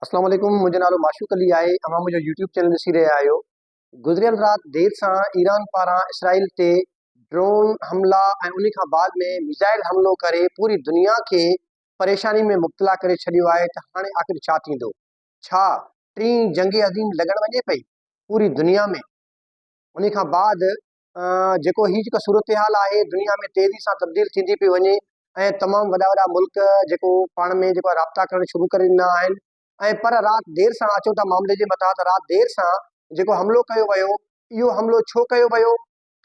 اسلام عليڪم منهنجو نالو معشوق علي آهي اوهان منهنجو يوٽيوب چينل ڏسي رهيا آهيو گذريل رات دير سان ايران پاران اسرائيل تي ڊرون حملا ۽ ان کان بعد ۾ ميزائل حملو ڪري پوري دنيا کي پريشاني ۾ مبتلا ڪري ڇڏيو آهي ته هاڻي آخر ڇا ٿيندو ڇا ٽين جنگ عظيم لڳڻ وڃي پئي پوري دنيا ۾ ان کان بعد جيڪو هي جيڪا صورتحال آهي دنيا ۾ تيزي سان تبديل ٿيندي پئي وڃي ۽ تمام وڏا وڏا ملڪ جيڪو پاڻ ۾ جيڪو آهي رابطا ڪرڻ شروع ڪري ڏنا آهن ۽ پر رات دير سان اچو ٿا معاملي جي مٿان ته رات دير سان جيڪو حملو ڪيو ويو اهو حملو ڇو ڪيو ويو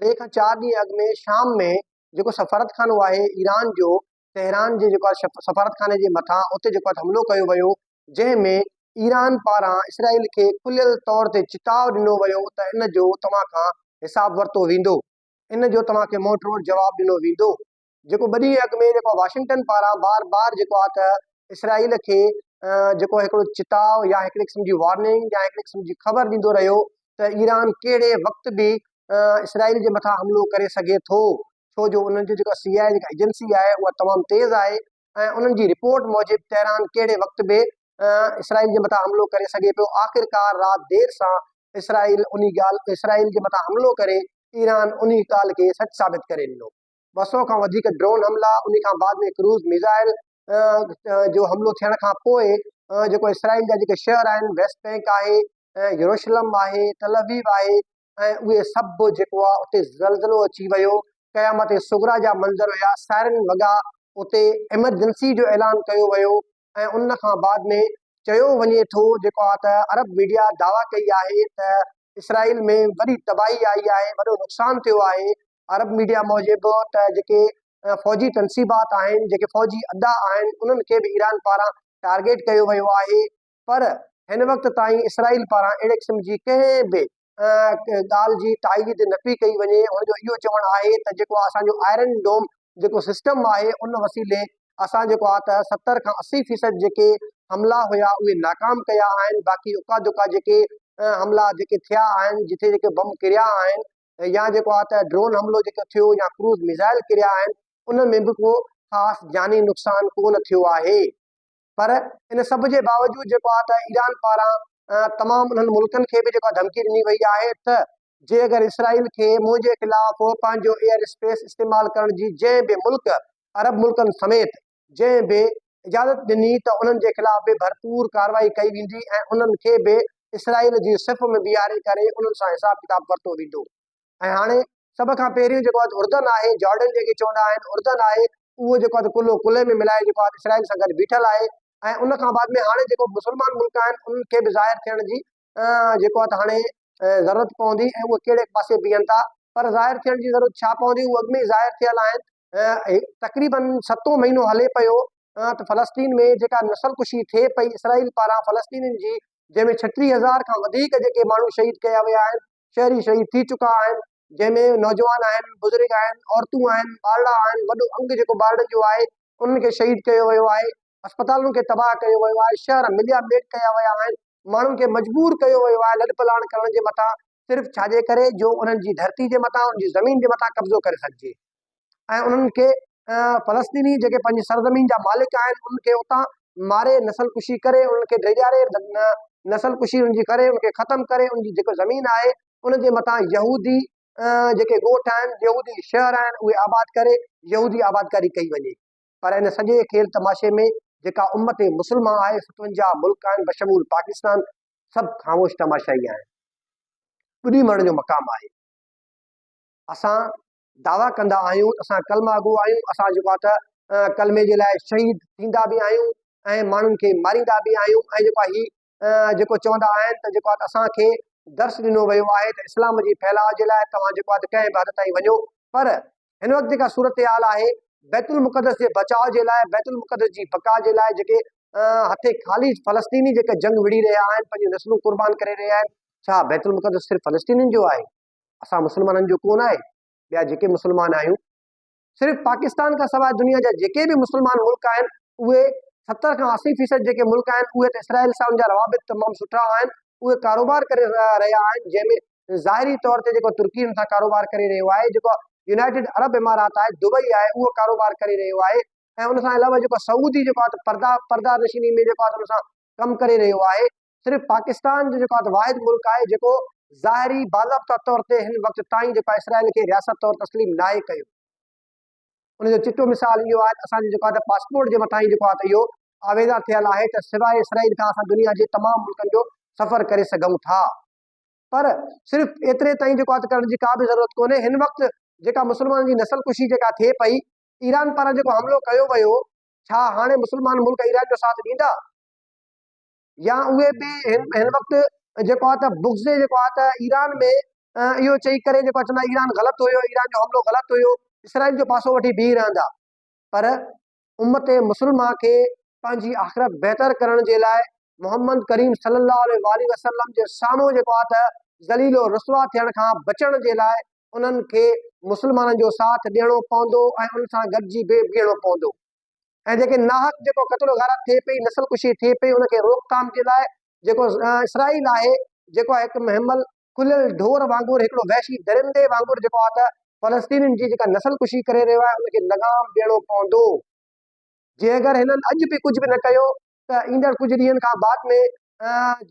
ٽي کان چار ڏينهن اڳ ۾ شام ۾ جيڪو سفارت خانو آهي ايران جو تهران جي جيڪو سفارت خاني جي مٿان اتي جيڪو حملو ڪيو ويو جنهن ۾ ايران پاران اسرائيل کي کليل طور تي چتاء ڏنو ويو ته ان جو توهان کان حساب ورتو ويندو، ان جو توهان کي منهن ٽوڙ جواب ڏنو ويندو، جيڪو ٻه ڏينهن اڳ ۾ جيڪو واشنگٽن پاران بار بار جيڪو آهي ته اسرائيل کي جيڪو هڪڙو چتاء يا هڪڙي قسم جي وارننگ يا هڪڙي قسم جي خبر ڏيندو رهيو ته ايران ڪهڙي وقت به اسرائيل جي مٿان حملو ڪري سگهي ٿو، ڇو جو انهن جو جيڪا سي آء اي جيڪا ايجنسي آهي اها تمام تيز آهي ۽ انهن جي رپورٽ موجب تهران ڪهڙي وقت به اسرائيل جي مٿان حملو ڪري سگهي پيو. آخرڪار رات دير سان اسرائيل انهي ڳالهه اسرائيل جي مٿان حملو ڪري ايران انهي ڳالهه کي سچ ثابت ڪري ڏنو. ٻه سؤ کان وڌيڪ ڊرون حملا انهي کان بعد ۾ ڪروز ميزائل جو حملو ٿيڻ کان پوء جيڪو اسرائيل جا جيڪي شهر آهن ويسٽ بينڪ آهي، يروشلم آهي، تل ابيب آهي ۽ اهي سڀ جيڪو آ اتي زلزلو اچي ويو قيامت صغرا جا منظر هيا سائرن وڳا اتي ايمرجنسي جو اعلان ڪيو ويو ۽ ان کان بعد ۾ چيو وڃي ٿو جيڪو آ ته عرب ميڊيا دعويٰ ڪئي آهي ته اسرائيل ۾ وڏي تباهي آئي آهي وڏو نقصان ٿيو آهي عرب ميڊيا موجب ته جيڪي فوجي تنصيبات آهن جيڪي فوجي اڏا آهن انهن کي به ايران پاران ٽارگيٽ ڪيو ويو آهي پر هن وقت تائين اسرائيل پاران اهڙي قسم جي ڪنهن به ڳالهه جي تائيد نه پئي ڪئي وڃي، هن جو اهو چوڻ آهي ته جيڪو اسان جو آئرن ڊوم جيڪو سسٽم آهي ان وسيلي اسان جيڪو آهي ته ستر کان اسي فيصد جيڪي حملا هيا اهي ناڪام ڪيا آهن باقي اڪا دڪا جيڪي حملا جيڪي ٿيا آهن جتي جيڪي بم ڪريا آهن يا جيڪو آهي ته ڊرون حملو جيڪو ٿيو يا ڪروز ميزائل ڪريا آهن ان ۾ به ڪو خاص جاني نقصان ڪونه ٿيو آهي. پر ان سڀ جي باوجود جيڪو آهي ته ايران پاران تمام انهن ملڪن کي به جيڪو آهي ڌمڪي ڏني وئي آهي ته جي اگر اسرائيل کي منهنجي خلاف پنهنجو ايئر اسپيس استعمال ڪرڻ جي جنهن به ملڪ عرب ملڪن سميت جنهن به اجازت ڏني ته انهن جي خلاف به ڀرپور ڪارروائي ڪئي ويندي ۽ انهن کي به اسرائيل جي صف ۾ بيهاري ڪري انهن سان حساب ڪتاب ورتو ويندو. ۽ هاڻي سڀ کان پهريون جيڪو آهي اردن آهي، جارڊن جنهن کي چوندا آهن، اردن آهي، اهو جيڪو آهي ڪلهو ڪلهي ۾ ملائي جيڪو آهي اسرائيل سان گڏ بيٺل آهي ۽ ان کان بعد ۾ هاڻي جيڪو مسلمان ملڪ آهن انهن کي به ظاهر ٿيڻ جي جيڪو آهي هاڻي ضرورت پوندي ۽ اهي ڪهڙي پاسي بيهن ٿا پر ظاهر ٿيڻ جي ضرورت ڇا پوندي، اهي اڳ ۾ ئي ظاهر ٿيل آهن تقريبن ستون مهينو هلي پيو ته فلسطين ۾ جيڪا نسل ڪشي ٿئي پئي اسرائيل پاران فلسطينين جي جنهن ۾ ڇٽيهه هزار کان وڌيڪ جيڪي ماڻهو شهيد ڪيا ويا آهن شهري شهيد ٿي چڪا آهن جنهن ۾ نوجوان آهن بزرگ آهن عورتون آهن ٻارڙا آهن وڏو انگ جيڪو ٻارڙن جو آهي انهن کي شهيد ڪيو ويو آهي اسپتالن کي تباهه ڪيو ويو آهي، شهر مليا ميٽ ڪيا ويا آهن، ماڻهن کي مجبور ڪيو ويو آهي لڏپلاڻ ڪرڻ جي مٿان صرف ڇاجي ڪري جو انهن جي ڌرتي جي مٿان انهن جي زمين جي مٿان قبضو ڪري سگهجي ۽ انهن کي فلسطيني جيڪي پنهنجي سرزمين جا مالڪ آهن انهن کي اتان ماري نسل ڪشي ڪري انهن کي ڊيڄاري نسل ڪشي انهن جي ڪري انهن کي ختم ڪري انهن جي جيڪو زمين آهي ان جي مٿان يهودي جيڪي ڳوٺ آهن يهودي شهر آهن اهي آباد ڪري يهودي آبادڪاري ڪئي وڃي پر ان سڄي کيل تماشي ۾ جيڪا امت مسلمه آهي، ستونجاهه ملڪ آهن بشمول پاڪستان سڀ خاموش تماشائي آهن. ٻڏي مرڻ جو مقام آهي. اسان دعويٰ ڪندا آهيون ته اسان ڪلمه گو آهيون، اسان جيڪو آهي ته ڪلمي جي لاء شهيد ٿيندا به آهيون ۽ ماڻهن کي ماريندا به آهيون ۽ جيڪو آهي هي جيڪو چوندا آهن ته جيڪو اسان کي درس ڏنو ويو آهي ته اسلام جي ڦهلاء جي لاء توهان جيڪو آهي ڪنهن به حد تائين وڃو پر هن وقت جيڪا صورتحال آهي بيت المقدس جي بچاء جي لاء بيت المقدس جي بقا جي لاء جيڪي هٿي خالي فلسطيني جيڪا جنگ وڙهي رهيا آهن پنهنجون نسلون قربان ڪري رهيا آهن ڇا بيت المقدس صرف فلسطينين جو آهي اسان مسلمانن جو ڪونه آهي ٻيا جيڪي مسلمان آهيون صرف پاڪستان کان سواء دنيا جا جيڪي به مسلمان ملڪ آهن اهي ستر کان اسي فيصد جيڪي ملڪ آهن اهي ته اسرائيل سان ان جا روابط تمام سٺا آهن اهي ڪاروبار ڪري رهيا آهن جنهن ۾ ظاهري طور تي جيڪو ترڪي ان سان ڪاروبار ڪري رهيو آهي جيڪو يونائيٽيڊ عرب امارات آهي دبئي آهي اهو ڪاروبار ڪري رهيو آهي ۽ ان سان علاوه جيڪو سعودي جيڪو آهي ته پردا پردا نشيني ۾ جيڪو آهي ان سان ڪم ڪري رهيو آهي صرف پاڪستان جو جيڪو واحد ملڪ آهي جيڪو ظاهري باضابطه طور تي هن وقت تائين جيڪو اسرائيل کي رياست طور تسليم ناهي ڪيو ان جو چٽو مثال اهو آهي اسان جو جيڪو پاسپورٽ جي مٿان جيڪو آهي اهو آويزان ٿيل آهي ته سواء اسرائيل کان اسان دنيا جي تمام ملڪن جو سفر ڪري سگهون ٿا پر صرف ايتري تائين جيڪو آهي ڪرڻ جي ڪا به ضرورت ڪونهي هن وقت جيڪا مسلمانن جي نسل ڪشي جيڪا ٿئي پئي ايران پاران جيڪو حملو ڪيو ويو ڇا هاڻي مسلمان ملڪ ايران جو ساٿ ڏيندا يا اهي به هن وقت جيڪو آهي ته بغض جيڪو آهي ته ايران ۾ اهو چئي ڪري جيڪو چوندا آهن ايران غلط هيو ايران جو حملو غلط هيو اسرائيل جو پاسو وٺي بيهي رهندا پر امت مسلمه کي پنهنجي آخرت بهتر ڪرڻ جي لاء محمد ڪريم صلي الله عليه وآله وسلم جي سامهون جيڪو آهي ته ذليل و رسوا ٿيڻ کان بچڻ جي لاء انهن کي مسلمانن جو ساٿ ڏيڻو پوندو ۽ ان سان گڏجي به بيهڻو پوندو ۽ جيڪي ناحق جيڪو قتل و غارت ٿئي پئي نسل ڪشي ٿئي پئي ان کي روڪٿام جي لاء جيڪو اسرائيل آهي جيڪو آهي هڪ مهمل کليل ڍور وانگر هڪڙو وحشي درندي وانگر جيڪو آهي ته فلسطينين جي جيڪا نسل ڪشي ڪري رهيو آهي ان کي لغام ڏيڻو پوندو جي اگر هنن اڄ به ڪجهه به نه ڪيو ته ايندڙ ڪجهه ڏينهن کان بعد ۾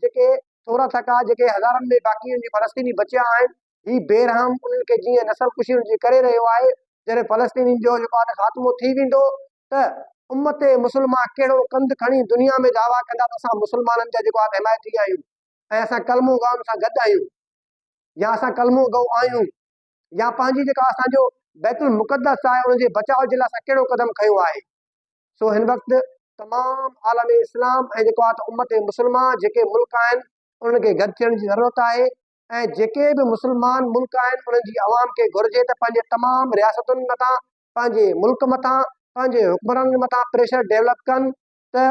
جيڪي ٿورا ٿڪا جيڪي هزارن ۾ باقي جي فلسطيني بچيا آهن هي بي رحم انهن کي جيئن نسل ڪشي جي ڪري رهيو آهي جڏهن فلسطينين جو جيڪو آهي خاتمو ٿي ويندو ته امت مسلمه ڪهڙو ڪنڌ کڻي دنيا ۾ دعويٰ ڪندا ته اسان مسلمانن جا جيڪو آهي حمايتي آهيون ۽ اسان ڪلمو گائن سان گڏ آهيون يا اسان ڪلمو گو آهيون يا پنهنجي جيڪا اسان جو بيت المقدس آهي ان جي بچاء جي لاء اسان ڪهڙو قدم کنيو آهي سو هن وقت تمام عالم اسلام ۽ جيڪو آهي امت مسلمه جيڪي ملڪ آهن انهن کي گڏ ٿيڻ جي ضرورت آهي ۽ جيڪي به مسلمان ملڪ آهن انهن جي عوام کي گهرجي ته پنهنجي تمام رياستن مٿان پنهنجي ملڪ مٿان پنهنجي حڪمرانن مٿان پريشر ڊيولپ ڪن ته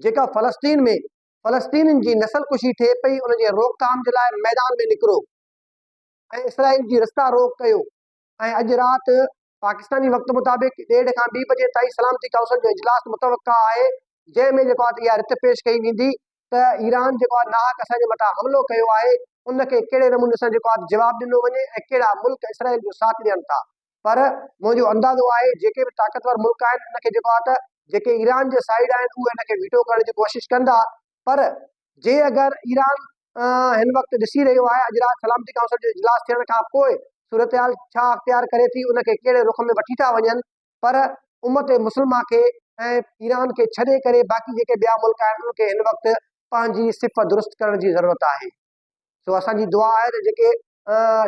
جيڪا فلسطين ۾ فلسطينين جي نسل ڪشي ٿئي پئي ان جي روڪ ٿام جي لاء ميدان ۾ نڪرو ۽ اسرائيل جي رستا روڪ ڪيو. ۽ اڄ رات پاڪستاني وقت مطابق ڏيڍ کان ٻي بجي تائين سلامتي ڪائونسل جو اجلاس متوقع آهي جنهن ۾ جيڪو آهي اها رٿ پيش ڪئي ويندي ته ايران جيڪو آهي ناحق اسان جي مٿان حملو ڪيو آهي ان کي ڪهڙي نموني سان جيڪو آهي جواب ڏنو وڃي ۽ ڪهڙا ملڪ اسرائيل جو ساٿ ڏين ٿا پر منهنجو اندازو آهي جيڪي به طاقتور ملڪ آهن ان کي جيڪو آهي ته جيڪي ايران جي سائيڊ آهن اهي ان کي ويٽو ڪرڻ جي ڪوشش ڪندا پر جي اگر ايران هن وقت ڏسي رهيو آهي اڄ رات سلامتي ڪائونسل جو اجلاس ٿيڻ کان پوء صورتحال ڇا اختيار ڪري ٿي ان کي ڪهڙي رخ ۾ وٺي ٿا وڃن پر امت مسلمه کي ۽ ايران کي ڇڏي ڪري باقي جيڪي ٻيا ملڪ آهن ان کي هن وقت پنهنجي صف درست ڪرڻ جي ضرورت آهي. سو اسان جي دعا آهي ته جيڪي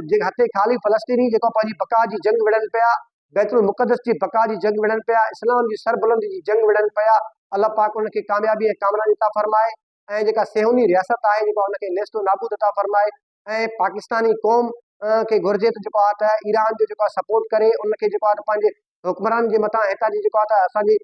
جيڪي هٿين خالي فلسطيني جيڪو پنهنجي بقا جي جنگ وڙهن پيا بيت المقدس جي بقا جي جنگ وڙهن پيا اسلام جي سربلندي جي جنگ وڙهن پيا الله پاڪ انهن کي ڪاميابي ۽ ڪامراني عطا فرمائي ۽ جيڪا سيوني رياست آهي جيڪا ان کي نيست و نابود عطا فرمائي ۽ پاڪستاني قوم کي گهرجي ته جيڪو آهي ته ايران جو جيڪو آهي سپورٽ ڪري ان کي جيڪو آهي ته پنهنجي حڪمران جي مٿان هتان جي جيڪو آهي ته اسان جي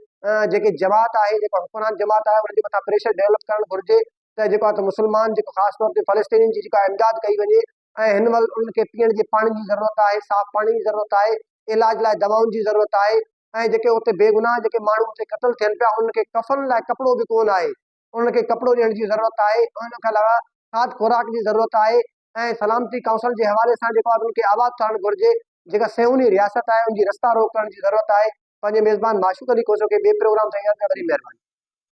جيڪي جماعت آهي جيڪو حڪمران جماعت آهي ان جي مٿان پريشر ڊيولپ ڪرڻ گهرجي ته جيڪو آهي ته مسلمان جيڪو خاص طور تي فلسطينين جي جيڪو آهي امداد ڪئي وڃي ۽ هن مهل انهن کي پيئڻ جي پاڻي جي ضرورت آهي صاف پاڻي جي ضرورت آهي علاج لاء دوائن جي ضرورت آهي ۽ جيڪي اتي بيگناهه جيڪي ماڻهو اتي قتل ٿين پيا انهن کي ڪفن لاء ڪپڙو به ڪونه آهي انهن کي ڪپڙو ڏيڻ جي ضرورت آهي ۽ ان کان علاوه کاڌ خوراڪ جي ضرورت آهي ۽ سلامتي ڪائونسل جي حوالي سان جيڪو آهي انهن کي آباد ٿيڻ گهرجي جيڪا سيوني رياست آهي ان جي رستا روڪ ڪرڻ جي ضرورت آهي پنهنجي ميزبان معشوق علي کوسو کي ٻئي پروگرام سان ايندڙ ڀري مهرباني.